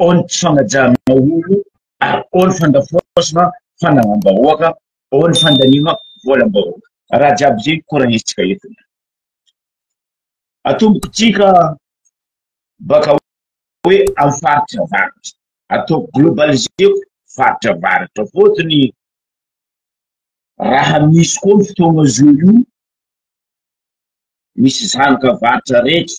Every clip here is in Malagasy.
ao ny tsy fanajana olo ary ao ny fandafoasana fananam-bahoaka, ao ny fandaniana volam-bahoaka. Raha jiaby izay no koranintsika eto. Atomboko tsika baka hoe amin'ny faritra varatra. Ataoko globaliseko faritra varatra. Fotony raha misy koa ny fotoagna zo io, misy zanaka varatra rehetra,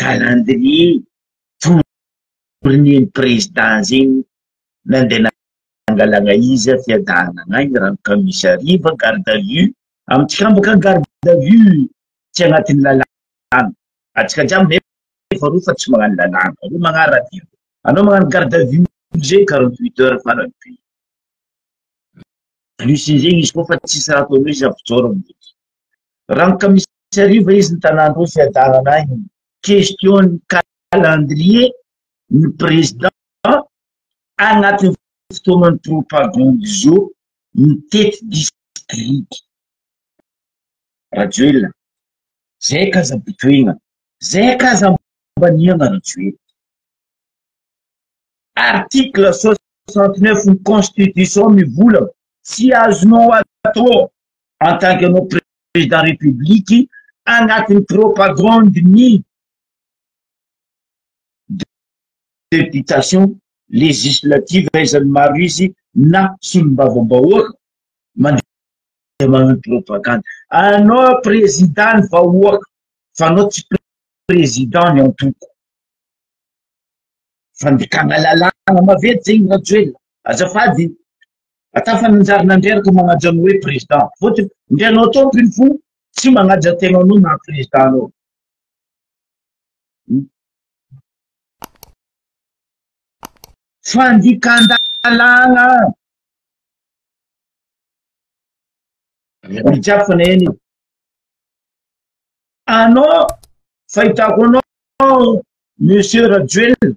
calendrier fourni-n'ny président zegny nandeha nangalagna izy fiadanagna agny raha ny commissariat va garde à vue, amintsika any bôka garde à vue tsy agnatin'ny lalàna, antsika jiaby nefa efa roa fa tsy magnano lalàna, anao magnaradia, anao magnano garde à vue zegny quarante huit heures farany be, plus-n'ny zegny izy koa fa tsisy raha ataonao izy avy mijoro amin'igny, raha ny commissariat. Tsy hariva izy ny tanàn'Androy fiadanana ahy ny question calendrier ny président agnatin'ny fotoanan'ny propagande zao mitety district. Rajoelina zay ka aza botohina zay ka aza ambaniana Rajoelina. Article soixante neuf ny constitution mivolagna tsy azonao atao en tant que anao Président République agnatin'ny propagande-ny députation législative aizan'ny maro izy na solombavambahoaka mandeha magnano propagande. Anao Président ny vahoaka fa anao tsy Président ny antoko. Fandikana lalàna maventy zegny Rajoelina. Azafady. Atafa nanjary nandreraka manaja anao hoe président. Fôtony ndry anao tompony fo tsy manaja tena anao maha président anao. Fandikandalagna. Olo jiaby fa naheno io. Anao fahitako anao Monsieur Rajoelina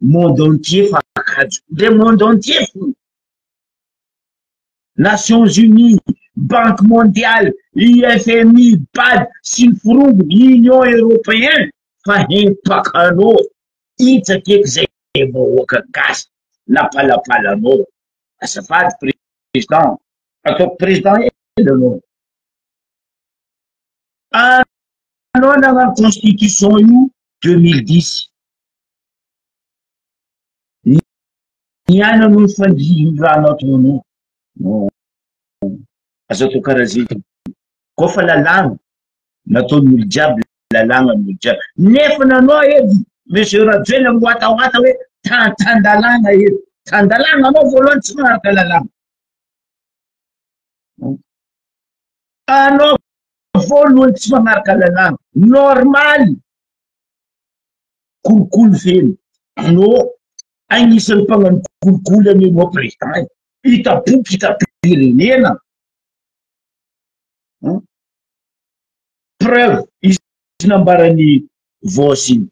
monde entier fa kajo le monde entier fony nations unis banque mondiale ifmi bad sy ny forongony union européen fa hempakanao itsakeky zay vahoaka gasy napalapalanao azafady président ataoko président ela anao anao nagnano constitution io deux mille dix Ny aina no fandrian'ny rano atono. Aza atao karaha zay. Koa fa lalàna, nataon'ny olo jiaby lalàna ny olo jiaby. Nefa nanao edy Monsieur Rajoelina miwatawata hoe tantan-dalàna edy. Tan-dalàna anao voalohany tsy manaraka lalàna. Anao voalohany tsy manaraka lalàna. Normaly. kolikoly feno anô agnisan'ny mpagnano kolikoly any anô président e mpitapoko mpitapirenena preuve izy nambaran'ny vos iny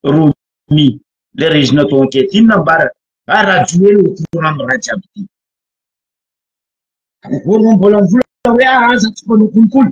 romi le rezina to enquête iny nambara a ah, rajoely au courant raha jiaby ty voanombola mvola hoe ah, aza tsy mpanao kolikoly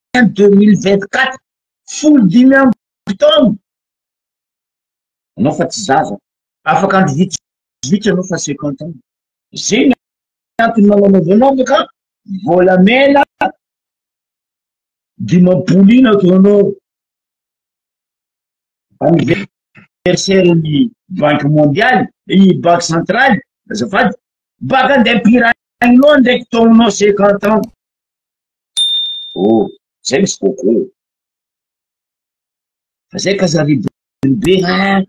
juin deux mille vingt quatre folo dimy amby taona anao fa tsy zaza afaka andro vitsy vitsy anao fa cinquante ans zay ny antony mananaovanao ka volamena dimampolo ina ataonao anniversaire ny banque mondiale i banque centrale azafady baka andeha pirahiny loha ndraiky taonao cinquante ans Oh! Zay misy coco. Fa zay ka zary be be hein!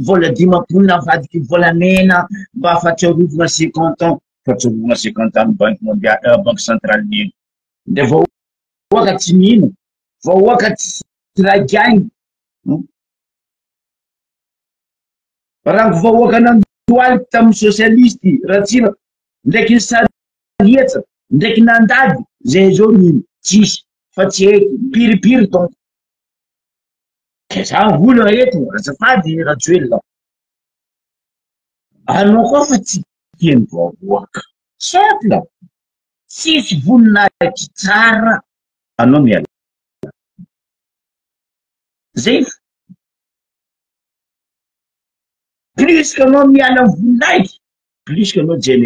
Vola dimampolo navadiky volamena mba fahatsiarovana cinquante ans, fahatsiarovana cinquante ans ny banky mondialy, euh, banky centrale ny eny. Ndray vahoaka tsy mino, vahoaka tsy ray gainy. Hmm? Rango vahoaka nandohalika tamin'ny socialiste, Ratsiraka, ndraiky ny sary Nandriatsa ndraiky nandady zay zao mino tsisy fa tsy eky mpiripiry donc. Za vola eto azafady Rajoelina. Anao koa fa tsy tia ny vahoaka. Simple. Tsisy voninahitry tsara anao mialà. Zay fo. Plus que anao miala am voninahitry plus que anao jeune.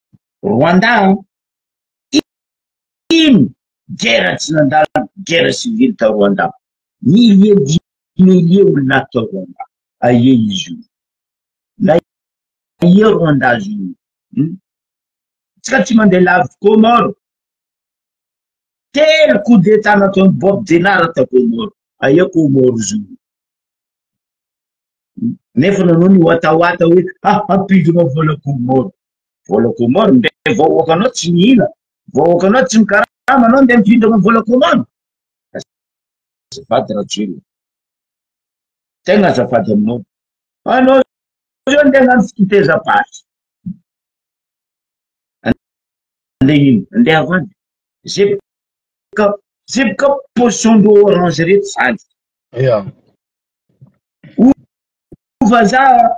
Rwanda an! Ino guerre tsy nandalo guerre civile tao Rwanda? Milliers dix milliers olona ato tao Rwanda. Aie izy io. Na aie Rwanda azy io. Hmm? Tsika tsy mandeha lavitra Comore. Telo coup d'état nataon'i Bob Denard tao Comore. Aie Comore izy io. nefa nanao ny watawata hoe ah, hampidina vola Comore. vola komoro nde vahoakanao tsy mihina vahoakanao tsy mikarama anao nde mifindra aminy vola komoro azafady rajoelina tegna azafady aminao anao zao nde agnano fitezabary nde ino nde avady zeboka zeboka position ndreo orange reto zany ya vazaha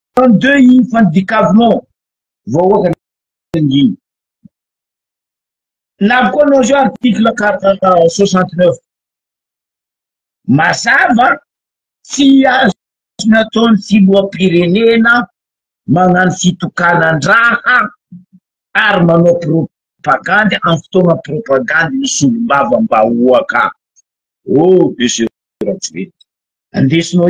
Trente deux infants du Cavlon vahoaka nangina. Navy koa anao zao article soixante neuf. Mazava tsy azo nataon'ny filoham-pirenena magnano fitokanan-draha ary manao propagandy amin'ny fotoana propagandy ny solombavambahoaka. Oh monsieur Rajoelina, andesinao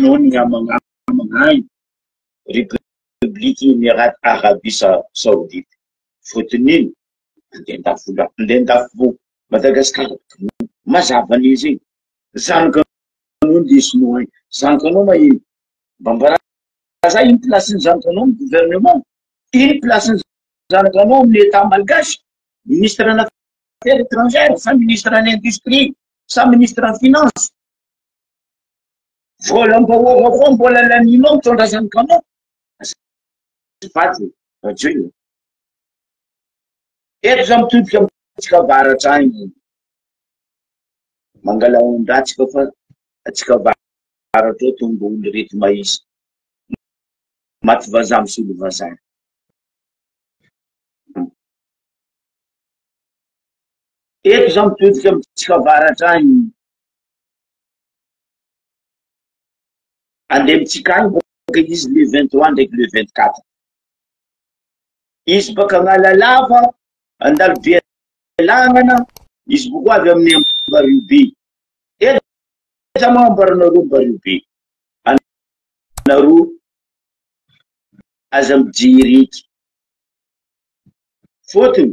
Noho ny hamangamangany Repobliky Emirata Arabia Saodita, voatonona andian-dafo Madagasikara. Mazava ny izy iny. Zanaka anao ny sinoa iny. Zanaka anao ma iny. Mba ambarazay iny place ny zanaka anao amin'ny gouvernement. Iny place ny zanaka anao amin'ny Etat malgache. Ministre ana affaires étrangères sa ministre ana industrie sa ministre ana finance. Volam-bahoaka koa mbola lanianao mitondra izany kanao. Azafady radio e. Eto za mitodika amintsika avaratra any. Mangala ondatsika fa atsika avaratra ao tombo olo reto mahisa. Maty vazaha misolo vazaha. Eto za mitodika amintsika avaratra any. Andeha mitsika any bôka izy le vingt trois ndraiky le vingt quatre. Izy baka Analalava, Andalobe Lagnana, izy boko avy amin'ny Ambaribe. Eza moa ambaranareo Ambaribe? Anareo aza mijery eky. Fôtony,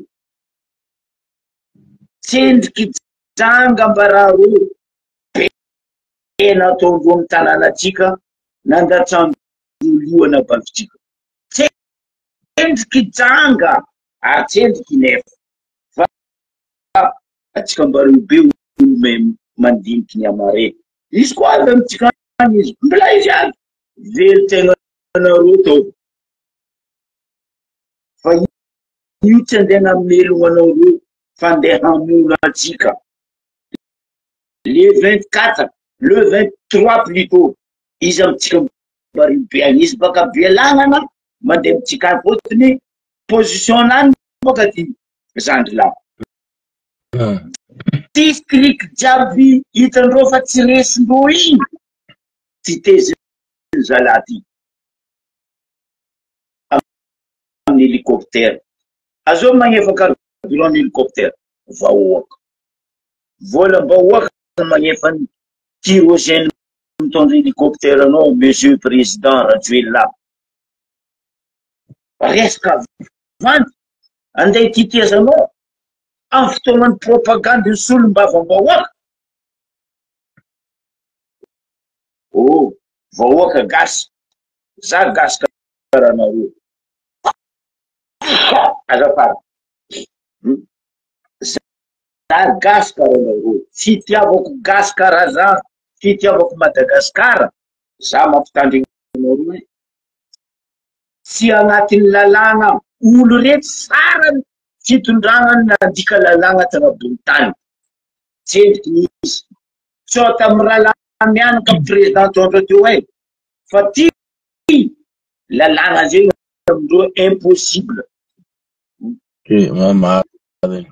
tsendriky janga ambarareo tena tao ambony tanànantsika nandatsan-dolohana bankintsika. Tsendriky janga ary tsendriky nefa fa antsika mba reo be olome mandiniky ny amare. Izy koa avy amintsika any izy. Mbola izy any. Very tegna nareo tao. Fa io tsy andeha namelogna anareo fa andeha hamono antsika. Le vingt quatre, le vingt trois plutot, iza amintsika marigny be agny, izy baka Bealagnana mande amintsika agny fôtony position nany baka ty zandry lahy. District jiaby hitandreo fa tsy resindreo igny ty tezin zalahy ty aminy helicoptère, azao magnefa carburant ny helicoptère vahoaka. Voalam-bahoaka no manefa ny kyroseny mitondra hélicoptère anao Monsieur Président Rajoelina. Resaka vandy andeha tetezanao amin'ny fotoanan'ny propagande ny solombavambahoaka. Oh, vahoaka gasy, za gasy karaha anareo. Azafady. Zah gasy ka ranga rô. Fitiavako gasy karaha zah. Fitiavako Madagasikara. Zah mampitandrigna anareo e, tsy agnatin'ny lalàgna olo reto farany fitondragna nandika lalàgna tanabon'ny tany. Tsendriky ny izy. Sao tamin'ny rahalahy mianaka président Tondra teo hay. Fa ty lalàgna zegny amindreo impossible. Tena marina.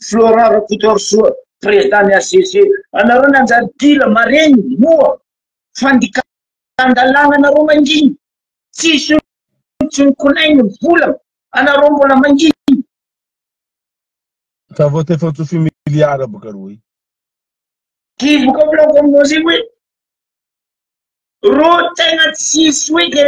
Florent Rakotoarisoa, président ny HCC, anareo nanjary dila marenina, moa, fandikan-dalàna anareo manginy, tsisy olo tsy mikolaigny ny volagna, anareo mbola manginy. Ça vaut efa tsofy milliards boka roy. Ty boka plan communauté hoe ro tegna tsisy hoe de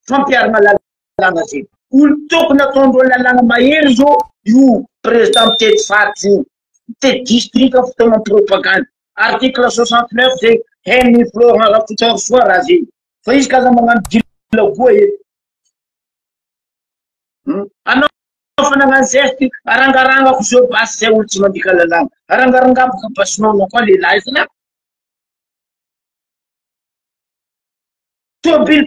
fampiharana lalàna. lalàna zay. Olo tokony ataondreo lalàna mahery zao io président mitety faritra io, mitety district fa tao am propagande, article soixante neuf zay haine i Florent Rakotoarisoa raha zay, fa izy k'aza magnano dilagoa eto, hum, anao efa nagnano geste arangarangako zao basy zay olo tsy mandika lalàna, arangarangako ka basinao anao koa lehilahy zalahy. Tobily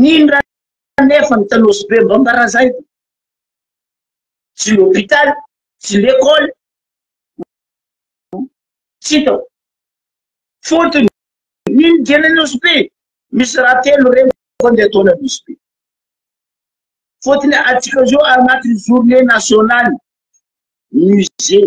Nindra nefa ny Tanose be mba mbarazay ty. Tsy l'hôpital, tsy l'école, tsy hitako. Fotony, ny dieny Anosibe be misy raha telo reniko andeha atao any Anosibe be. Fotony atsika zao anatin'ny journée nationale musée.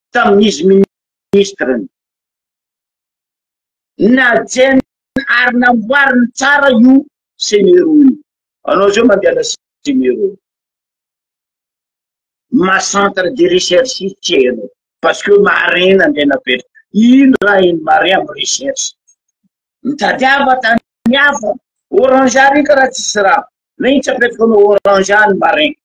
tamin'izy ministre ny. Najaina ary namboariny tsara io Semero io. Anao izao mandehana Semero. Ma centre de recherche tsy hainao. Parce que marin nandeha napetra. Ino raha iny marin amin'ny recherche. Mitadiava tany hafa. Orange rika raha tsisy rano. Nahitsy apetraka anao orange ny marin.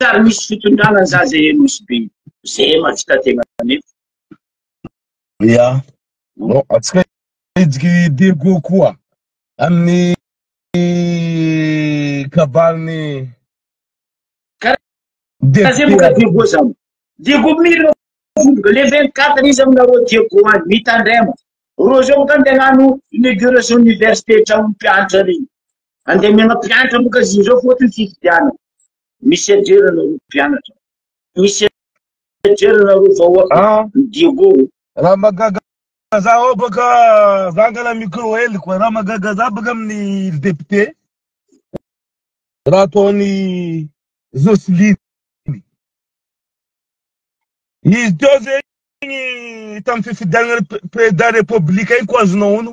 Ary misy fitondrana za zay e nosy be zay e mahavita tegna nefa. Ia, no atsika hijiky Diego koa amin'ny kabalin'ny Karaha zay boka Diego zany. Diego mirina vondroka le 24 izy aminareo Diego any mitandrema. Reo zao boka andeha hagnano inauguration université tragnon'ny mpianatra regny. Andeha mianao mpianatra moa ka izy ireo fotony fifidianana. Misedrera nareo mpianatra. Misedrera nareo vahoaka. Ah. Diego. Raha magaga za ao baka za angala micro hely koa. Raha magaga za baka amin'ny ry député. Raha ataon'i Jocelyne. Izy teo zegny tamin'ny fifidianana président république igny ko azonao ono.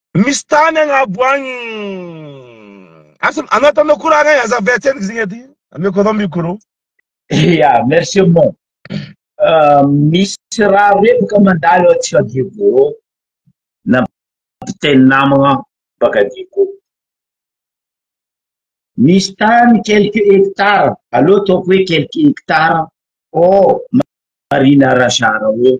Misy tany agnabo agny Asa anao tanao koro agny aza avy atsendriky zegny aty ameko anao mikoro ya merci mon euh, misy raha roe boka mandalo aty fa diego na mpiteny namagna baka diego misy tany quelques hectares allo ataoko hoe quelques hectares o oh, marina rachara o oh.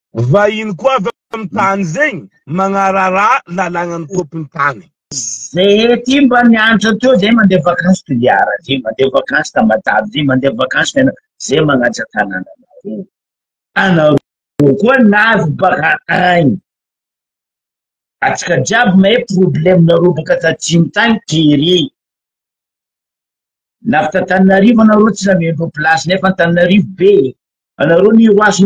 Vahiny koa avy amin'ny tany zegny magnararà lalagnan'ny tôpin'ny tany. Zay aty mba mianatra teo zay mandeha vakansy Toliara, zay mandeha vakansy Tamatave, zay mandeha vakansy Fianarantsoa, zay magnatsa tanananareo. Anareo koa navy baka agny. Atsika jiaby mahay problème-nareo baka tatsimo tagny kere. Navy t'Antananarivo anareo tsy nameno place nefa Antananarivo be e. Anareo miroaso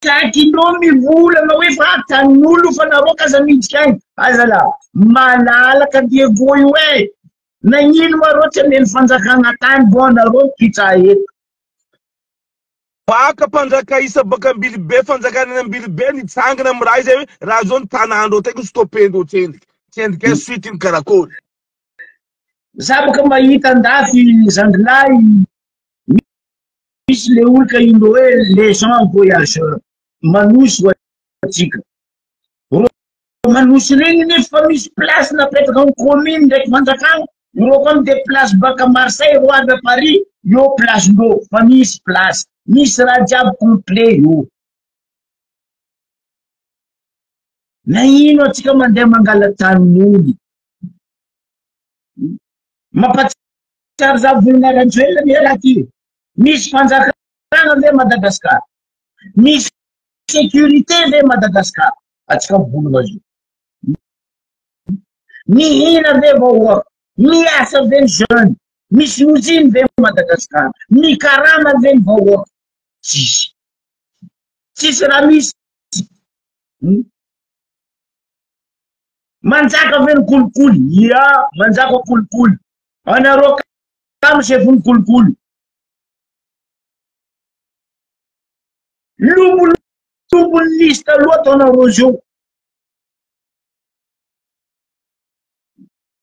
Takinao mivolagna hoe fa tanin'olo fa nareo ka aza miditry agny a zala malalaka Diego io e nagnino ma reo tsy ameno fanjakagna tany bon nareo mipitsa eto. Baka mpanjaka isa baka ambilibe fanjakana any ambilibe nitsangana am raha izay hoe raha zao ny tanandreo teko stopendreo tsendriky tsendriky a suite ny karakory. Za boka mahita andafy zandrilahy. Misy le olka indro hoe les gens voyageurs manosy ho antsika. Reo manosy regny nefa fa misy place napetraka ny commune ndraiky fanjakana. Ireo koa mde place baka Marseille reo avy à Paris eo place ndreo fa misy place. Misy raha jiaby complet eo. Na ino atsika mandeha mangala tanin'olo. Mampatsiahy Tsary zany volana Rajoelina anie raha ty. Misy fanjakana ve Madagascar? Misy sécurité ve Madagascar? Atsika volana zio. Mihina ve vahoaka? Miasa ve ny jeune? Misy usine ve Madagascar? Mikarama ve ny vahoaka? Tsisy. Tsisy raha misy. Hmm? Manjaka ve ny kolikoly? Ia, manjaka kolikoly. Anareo kamo zay vony kolikoly. Lobolobolon'ny lisy taloha ataonareo zao.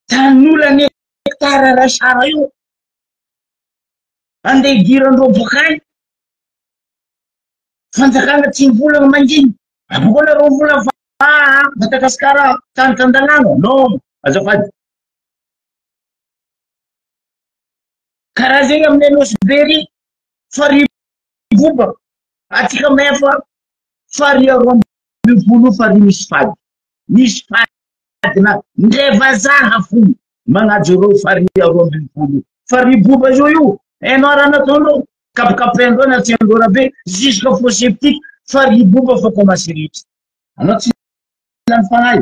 Tanolany hectare ray sara io. Andeha idiran'ireo boka any. Fanjakana tsy volana manginy. Aboko anareo vola fa Madagasikara tany tan-dalàna. Non, azafady. Karaha zegny aminay Nosy be ry farihy mivoba atsika main fa farihy roa ambin'ny folo io farihy misy fady misy fady na ndray vazaha fony magnajo reo farihy roa ambin'ny folo io farihy boba zao io hainao raha nataondreo kapikapaindreo na tsiandreo raha be jusque fosse septique farihy boba fa commence rehetra anao tsy lany fagnahy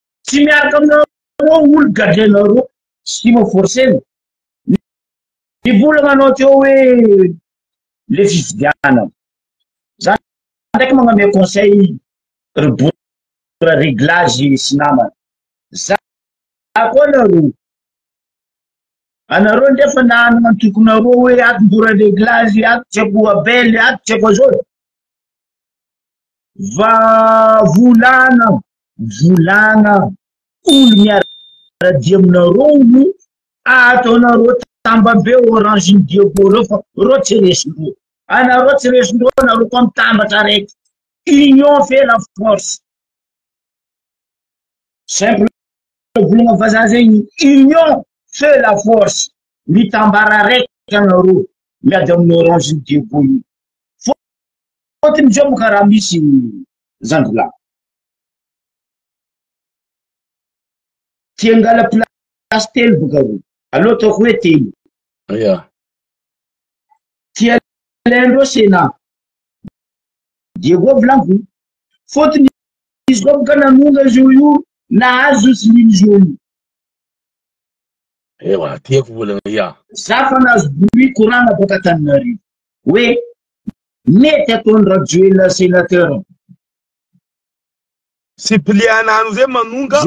Tsy miaraka aminareo olo gadrenareo sy mo forcena ny vola manao teo hoe le fifidianana za ndraiky magname conseil ry bora reglage sy namana za koa nareo anareo ndrefa nanana antokonareo hoe ato bora reglage ato tsy akoa abel ato tsy akoa zao Va volana volana olo miaradia aminareo no ataonareo tambambe orange ny diego reo fa reo tsy resindreo anareo tsy resindreo anareo koa mitambatra araiky union fait la force simple volana vazaha zegny union fait la force mitambara araiky anareo miady amin'ny orange ny diego io Fôtiny zao mo ka raha misy zandry lahy ty angala place telo boka roa aleo ataoko hoe telo ya ty alain ndreo sena diego volaniko fôtiny izy koa boka nanonga izy io io nahazo izy liny izy io io ewa tiako volana ya za fa nahazo bruit korana boka taninarivo hoe Mety ataony Rajoelina senateur. Suppléant azy hoe manonga.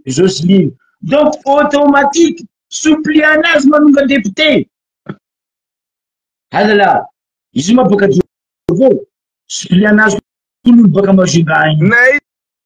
Jocelyne. Donc automatique suppléant azy manonga député. Alala. Izy ma baka Diovo. Suppléant azy koa baka Majunga. Nay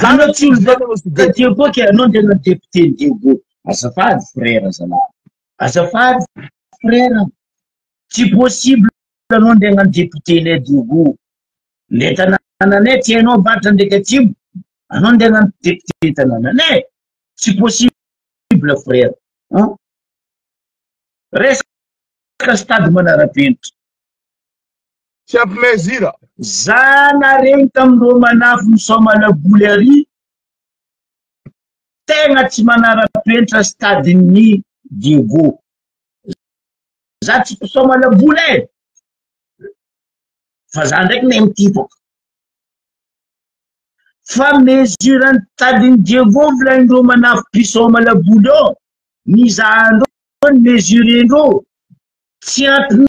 Zany tsy olona taty koa ke anao dia na député Diego. Azafady frère zalahy. Azafady frère. Tsy possible anao ndeha nany député le Diego. Le tanananay tsy hainao ambatra ndreky atsimo. Anao ndeha nany député tanananay. Tsy possible frère. Resaka stade manarapenitra. Tsy ampy mesure. Za naregny tam reo manafo misaomana boly ary tegna tsy manarapenitra stade ny Diego. Za tsy mpisaomana boly e. Fa za ndraiky ne mitipaka. Fa mesure ny stade ny Diego volain reo manafo mpisaomana boly eo. Ny za andreo ny mesure ndreo tsy ampy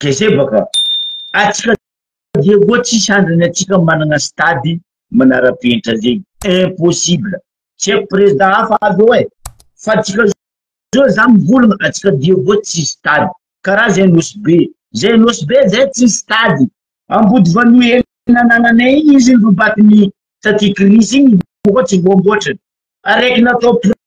gezebaka atsika dia koa tsisy andrany atsika managna stade manarapenitra zegny impossible tsy aiko président hafa avy eo eh fa atsika zao za mivolagna atsika dia koa tsy stade karaha zay nosy be zay nosy be zay tsy stade ambody vanohely nanananay igny izy nirobakiny taty kris igny koa tsy voamboatra araiky natao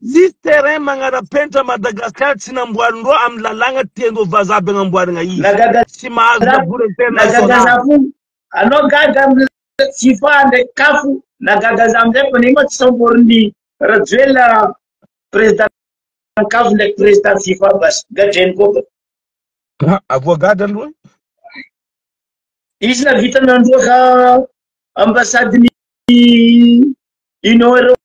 Misy terrain magnara-penitra Madagascar tsy namboarin'reo amin'ny lalàgna tian'reo vazaha be agnamboaragna izy. Tsy mahazo labour international. Anao gaga aminy Jifa ndraiky Kafo na gaga za amizay fa nema tsy samborin'i Rajoelina président ny Kafo ndraiky président Jifa bas gadreny koa ka. Haa avoa gaga aloha e. Izy nahavita nandroaka ambassade ny Union Européenne.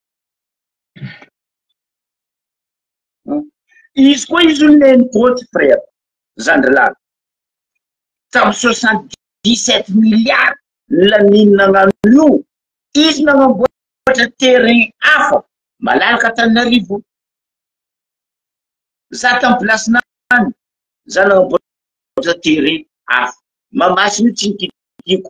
Izy koa izy io neny goty frère, zandry lahy. Tamin'ny soixante dix sept milliards ny Lamine nagnano io, izy nagnamboatra terrain hafa malalaka Antananarivo. Za tamin'ny place-n'any, za nagnamboatra terrain hafa. Mahamasina io tsy nikitikiako.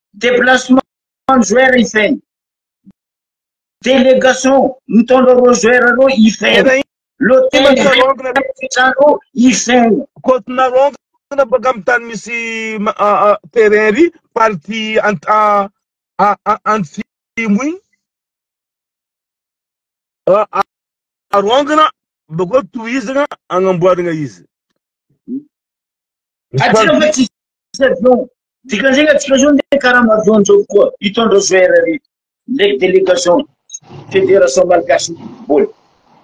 déplacement ny joueur hifehy délégation mitondra roa joueur roa hifehy l'hôtel fitrano hifehy côte narongo na baka amin'ny tany misy terrain ry party antsimo iny arongana bakeo tohizana agnamboarana izy Avion. Dikan'izay atsika zao ndeha karama avion zao koa hitondra zao RRI ndraiky delegation Fédération Malgache Football.